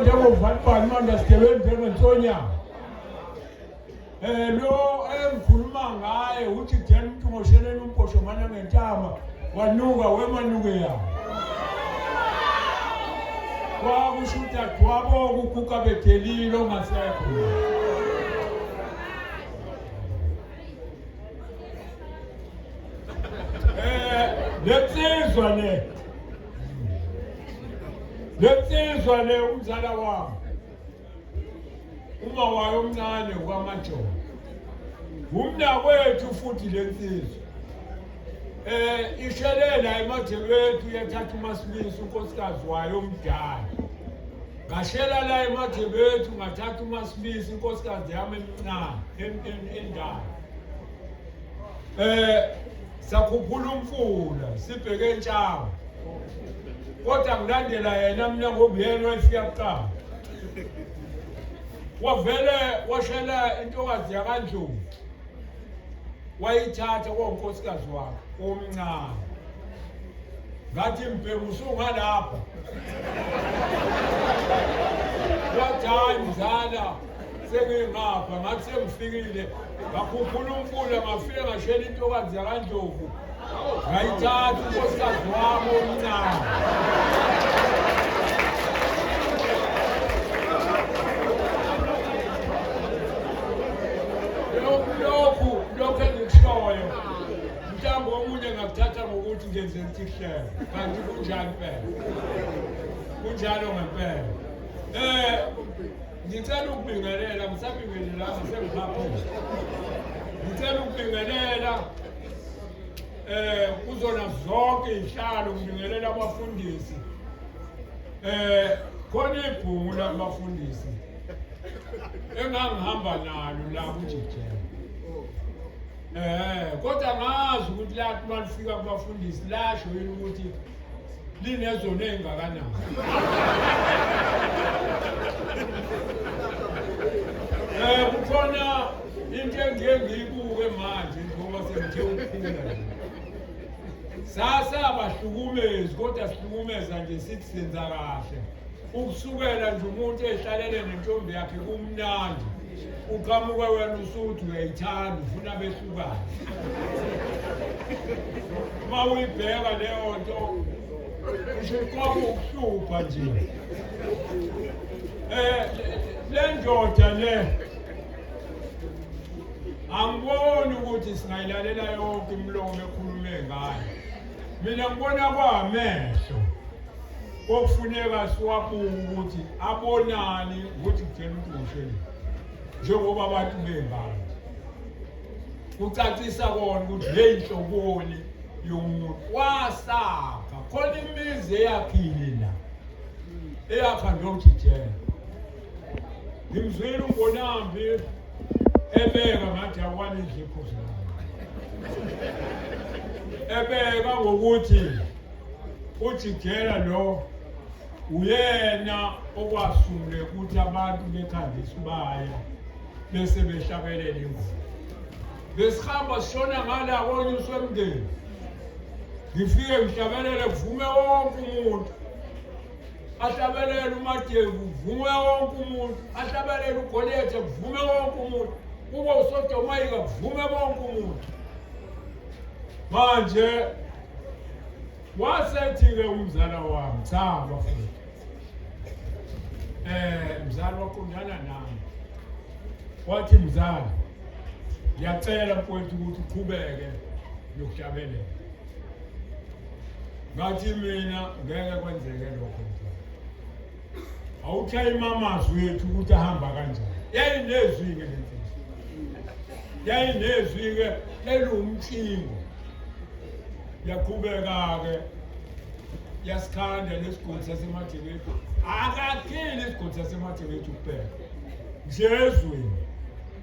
njengovalibhani manje sigebenzi engensonya um eh, lo engikhuluma ngaye uthi then uthi ngosheleni umbhosho mane ngentama wanuka wemanuke yabo kwakusho udadewabo kuguga bedelile ongasekho lensizwa le lensizwa le umzala wami uma wayo omncane kwamajola umnakwethu futhi lensizwa Eh ishelela emadlelweni uyathatha uMasibisi unkosikazi wayo omdala. Ngashela la emadlelweni ngathatha uMasibisi inkosikazi yami emncane endala. Eh sakhuphula umfula sibheke entshawa. Kodwa ngilandela yena mina ngoba yena wayefika kuqala. Wavele washela intokazi yakandlovu. wayithatha konkosikazi wakhe omncane ngathi mbhemu usungalapha wathi hayi mzala sengingapha ngathi sengifikile ngakhuphula umfula ngafike ngashela intokazi yakandlovu ngayithatha unkosikazi wami omncane lokhu lokhu engikushoyo mhlawumbe okunye ngakuthatha ngokuthi ngenze intihlelo kanti kunjani phela kunjalo ngempela um Ngicela ukubingelela, ngisabingelelanga sengihamba. Ngicela ukubingelela eh kuzona zonke izihlalo ngibingelela abafundisi. Eh khona ibhungu labafundisi engangihamba nalo la kuJijela. Eh kodwa ngazi ukuthi lathi malifika kubafundisi lasho yini ukuthi linezona ezingakanani. Eh kukhona into engiye ngiyibuke manje ngoba sengithe ukukhula. Sasa abahlukumezi kodwa sihlukumeza nje sithi senza kahle. Ukusukela nje umuntu ehlalele nentombi yakhe kumnandi. uqhamuke wena usuthi uyayithanda ufuna behlukane uma uyibheka leyo nto usuqoba ukuhlupha nje um eh, le ndoda le angiboni ukuthi singayilalela yonke imilomo ekhulume ngayo mina ngibona kwamehlo kokufuneka siwabuke ukuthi abonani ukuthi kutshela ukuthi ngosheni njengoba abantu bengalo kucacisa kona ukuthi le nhloboni yomuntu wasakha khona imizi eyakhile la eyakha ndojijela ngimzwile umbonambi ebeka ngathi akwane izipho zayo ebeka ngokuthi ujijela lo uyena okwasule ukuthi abantu bekhanda isibaya bese behlabelela imvula besihamba sishona ngala konyuswa emndeni ngifike ngihlabelele kuvume wonke umuntu ahlabelele umadevu kuvume wonke umuntu ahlabelele ugolethe kuvume wonke umuntu kube usodomayika kuvume bonke umuntu manje wasethi-ke umzala wami cha bafowethu eh mzala waqondana nami wathi mzala ngiyacela mfowethu ukuthi uqhubeke nokuhlabelela ngathi mina ngeke kwenzeke lokho mfowethu awuthayima amazwi ethu ukuthi ahamba kanjani yayinezwi-ke le mfihlo yayinezwi-ke eliwumtshingo yaqhubeka-ke yasikhanda nesigodi sasemadingethu akakheli isigodi sasemadingethu kuphela nje ezweni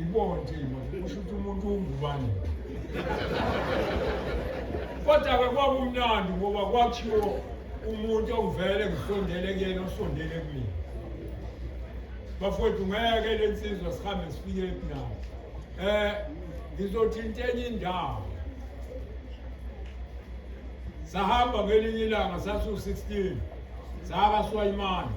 ngibonje kusho ukuthi umuntu ungubani kodwa-ke kwakumnandi ngoba kwakhiwo umuntu ongivele ngisondele kuyena osondele kumina bafowethu ngeke le nsizwa sihambe sifike epinawo um eh, ngizothinta enye indawo sahamba ngelinye ilanga sasiwu-16 saka swayimane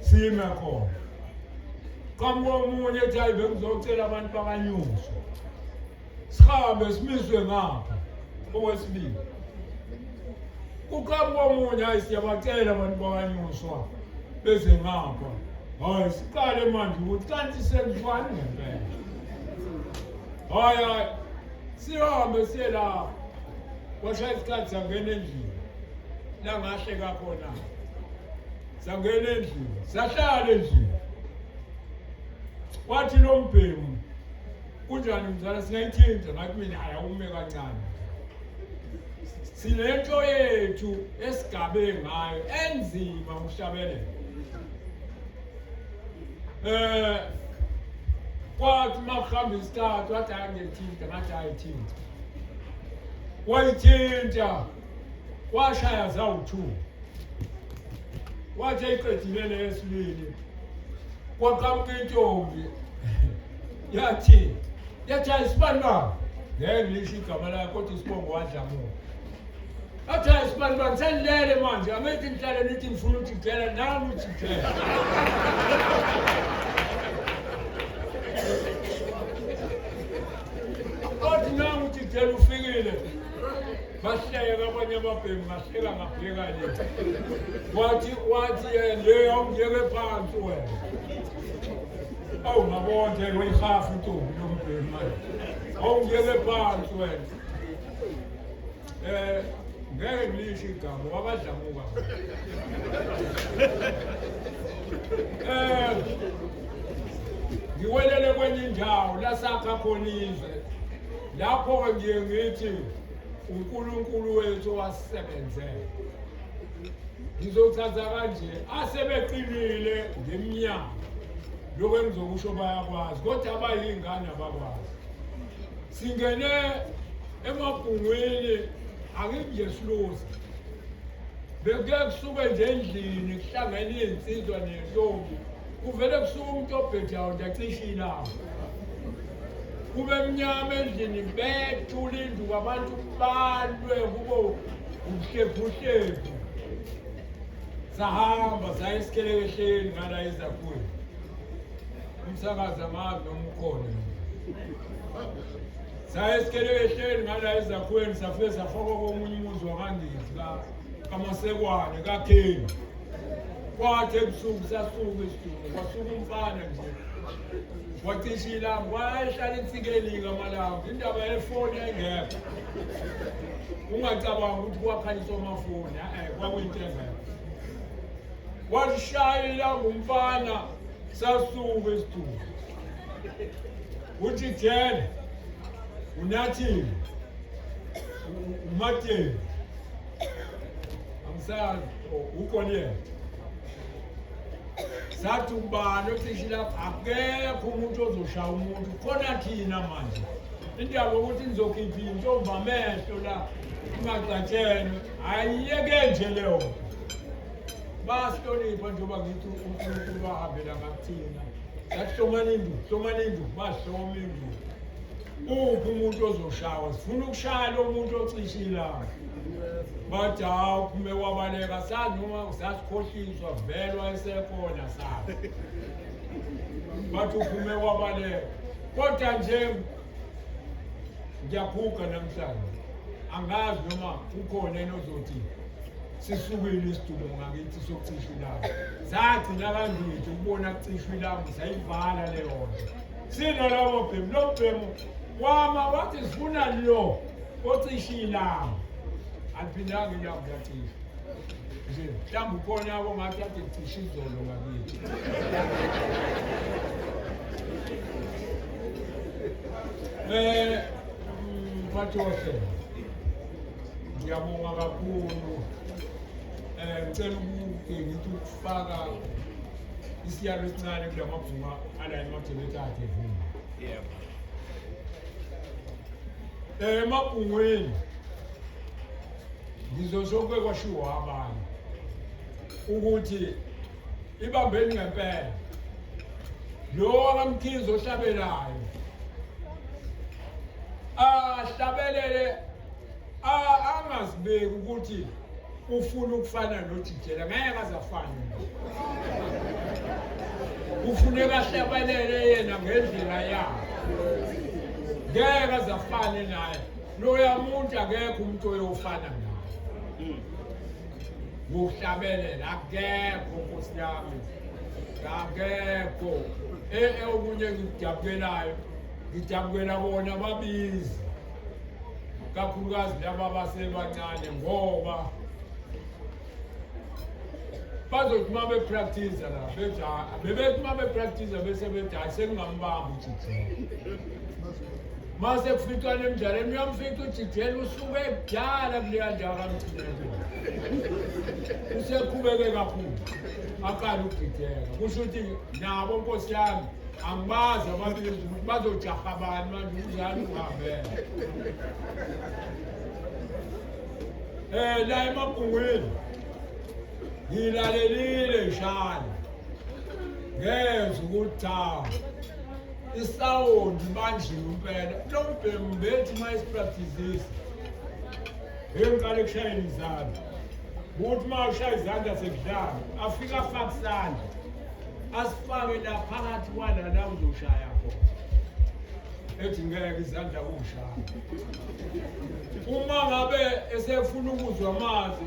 sime khona qhamuka omunye ethi hayi bengizocela abantu bakanyuso sihambe simiswe ngapha owesibili kuqhamuka omunye hayi siyabacela abantu bakanyuswa beze ngapha hayi siqale manje ukuthi kanti senziwani ngempela hayi hayi sihambe siye lapho kwashaya isikhathi sangena endlini langahle kakhona sangena endlini sahlala endlini wathi lo mbhemu kunjani mzala singayithinta ngathi mina ayawume kancane sinento yethu esigabe ngayo enzima uhlabelele eh kwathi uma kuhamba isikhathi wathi ayangithinta ngathi ayithinta wayithinta washaya zawu-two wathi eyiqedile neyesibili kwaqamuka intombi yathi yathi ayisibani baba ngeke ngisho igama layo kodwa isibongo wadlamuka Athaya sibani bani senilele manje angithi nihlale nithi ngifuna ukuthi ngidlela nami uthi ngidlela. Kodwa nami uthi ngidlela ufikile. Bahleke abanye ababhemi bahleka ngabheka nje. Wathi wathi yena le awungiyeke phansi wena. Awu ngabona nje uyihafu intombi yombhemi manje. Awungiyeke phansi wena. Eh ngeke ngisho igama wabadlamuka. Eh ngiwelele kwenye indawo lasakha khona izwe. Lapho ke ngiye ngithi uNkulunkulu wethu wasebenzela. Ngizochaza kanje asebeqinile ngemnyango lokho engizokusho bayakwazi kodwa abayingane abakwazi singene emabhungwini angikuyesiluzi bekuke kusuke nje endlini kuhlangene izinsizwa nentombi kuvele kusuke umuntu obhedayo nje acishe ilanga kube mnyama endlini bethula indlu kwabantu balwe kubo ubuhlebhuhlebhu sahamba saya esikhelekehleni ngala ezakhweni umsakazi angazi noma ukhona saye sikelekehleli ngala ezakhiweni safike safaka komunye umuzi wakandizi kamasekwane kakheni kwathi ebusuku sasuka isituku kwasuka umfana nje wacisha ilanga wayehlala insikelika amalanga indaba yefoni engekho ungacabanga ukuthi kwakhanyiswa amafoni e-e kwakuyinto engekho walishaya ilanga umfana Sasuka isitulo. Uthi jele unathile umateni amsazi ukhona yena sathi ubani othishi lapho akekho umuntu ozoshaya umuntu khona thina manje indaba yokuthi nizokhipha intombi amehlo la ingagcatshelwe ayiyeke nje leyo bayahlonipha njengoba ngithi unkulunkulu bahambela ngakuthina sathi hlomani indlu hlomani indlu bahloma indlu uphi umuntu ozoshawa sifuna ukushaya lo muntu ocishe ilanga bathi hawu uphume kwabaleka sazi noma sasikhohliswa velwa esekhona sazi bathi uphume kwabaleka kodwa nje ngiyaguga namhlanje angazi noma kukhona enozothi sisukile isidumo ngakithi sokucisha ilanga sagcina kangithi ukubona kucishwa ilanga sayivala leyo nto sinalobo bhemu lo bhemu wama wathi sifuna lo ocisha ilanga aliphindanga ilanga uyacisha nje mhlawumbe ukhona abo ngathi ade kucisha izolo ngakithi um mphathi wohlelo ngiyabonga kakhulu um ngicela ukuke ngithi ukufaka isiyalo esincane kula mabhunga ala emajeneti akhe vuma um emabhungweni ngizosho kuke kwashiwo abanye ukuthi ibambeni ngempela lo kamkhizi ohlabelayo ahlabelele angazibeki ukuthi ufuna ukufana nojijela ngeke azafana kufuneka ahlabelele yena ngendlela yakhe ngeke azafane naye loya muntu akekho umuntu oyofana naye kuhlabelela akekho nkosi yami akekho ee okunye ngikujabukelayo ngijabukela bona babizi kakhulukazi laba basebancane ngoba bazothi uma bepractiza la bebethi uma bepractiza bese bethi hayi sengingambamba ujijini mase kuficana emdlalweni uyamfica ujijela usuke kudala kuleya ndawo kamjijela usekhubeke kakhulu aqala ukudideka kusho ukuthi nabo nkosi yami angibazi abantu ukuthi bazojaha bani manje umdlali uhambele um eh, la emabhungwini ngilalelile shani ngezwa ukuthi cha isawundi manje impela lo mbhemu bethi uma isipraktizisa heyi ngiqale kushayela izandla ukuthi uma ushaya izandla sekudlala afike afake isandla asifake la phakathi kwala la uzoshaya khona ethi ngeke izandla kushaya uma ngabe esefuna ukuzwa amazi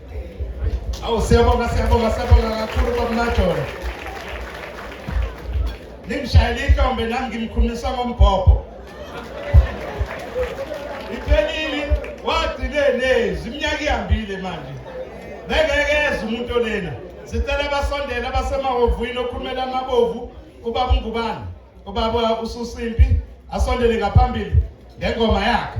Awu siyabonga siyabonga siyabonga kakhulu kwakunajona. Ningishayela ihlombe nami ngimkhulumisa ngombhobho. Iphelile wagcine nezi iminyaka ihambile manje. Bengeke eze umuntu olena. Sicela abasondela abasemahhovini okhulumela amabovu ubaba uNgubane. Ubaba ususimpi asondele ngaphambili ngengoma yakhe.